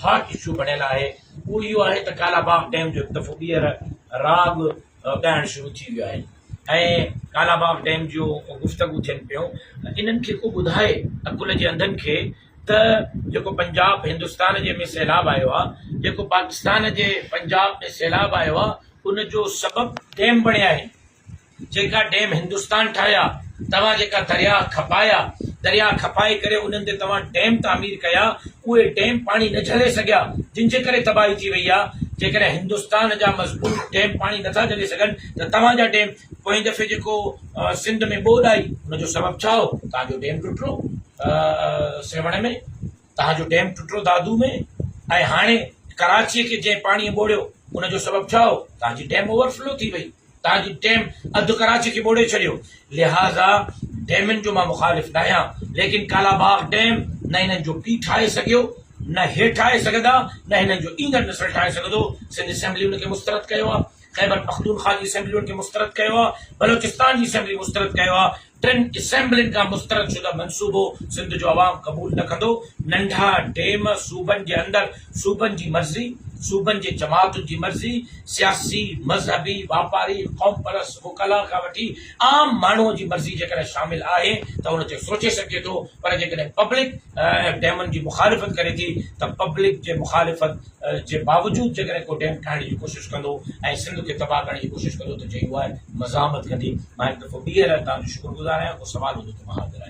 Hot issue بڻيل آهي اهو اهو آهي ته ڪالاباغ ڊيم جو هڪ دفعو ٻيهر راڳ ڳائڻ شروع ٿي ويو آهي ۽ ڪالاباغ ڊيم جو گفتگو ٿين پيو انهن کي ڪو ٻڌائي عقل جي انڌن کي ته جيڪو پنجاب هندستان جي ۾ سيلاب آيو آهي جيڪو پاڪستان جي پنجاب ۾ سيلاب آيو آهي ان جو سبب ڊيم بڻيا آهن جيڪا ڊيم هندستان ٺاهيا، توهان جيڪا درياهه کپايا، درياهه کپائي ڪري انهن تي توهان ڊيم تعمير ڪيا، اهي ڊيم پاڻي نه جهلي سگهيا، جن جي ڪري تباهي ٿي وئي آهي. جيڪڏهن هندستان جا مضبوط ڊيم پاڻي نه ٿا جهلي سگهن ته توهان جا ڊيم پوئين دفعي جيڪو سنڌ ۾ ٻوڏ آئي، ان جو سبب ڇا هو؟ توهان جو ڊيم ٽٽرو سيوهڻ ۾. تهان جو ڊيم ٽٽو دادو ۾ ۽ هاڻي ڪراچيء کي جنهن پاڻيء ٻوڙيو ان جو سبب ڇا هو؟ تهان جي ڊيم اوور فلو ٿي وئي، تهان جي ڊيم اڌ ڪراچي کي ٻوڙي ڇڏيو، لهٰذا ڊيمن جو مان مخالف ناهيان ليڪن ڪالا باغ ڊيم نه هنن جو پيء ٺاهي سگهيو، نه هي ٺاهي سگهندا، نه هنن جو ايندڙ نسل ٺاهي سگهندو، سنڌ اسيمبلي ان کي مسترد ڪيو آهي، خيبر پختونخواه جي اسيمبلي ان کي مسترد ڪيو آهي، بلوچستان جي اسيمبلي مسترد ڪيو آهي، ٽن اسيمبلين کان مسترد شده منصوبو سنڌ جو عوام قبول نه ڪندو، ننڍا ڊيم صوبن جي اندر صوبن جي مرضي، صوبن جي جماعتن جي مرضي، سياسي، مذهبي، واپاري، قومپرست وڪلا کان وٺي عام ماڻهو جي مرضي جيڪڏهن شامل آهي ته ان تي سوچي سگهجي ٿو پر جيڪڏهن پبلڪ ڊيمن جي مخالفت ڪري ٿي ته پبلڪ جي مخالفت جي باوجود جيڪڏهن ڪو ڊيم ٺاهڻ جي ڪوشش ڪندو ۽ سنڌ کي تباهه ڪرڻ جي ڪوشش ڪندو ته جي يو آء مزاحمت ڪندي. مان هڪ دفعو ٻيهر توهان جو شڪر گذار آهيان ڪو سوال هوندو ته مان حاضر آهيان.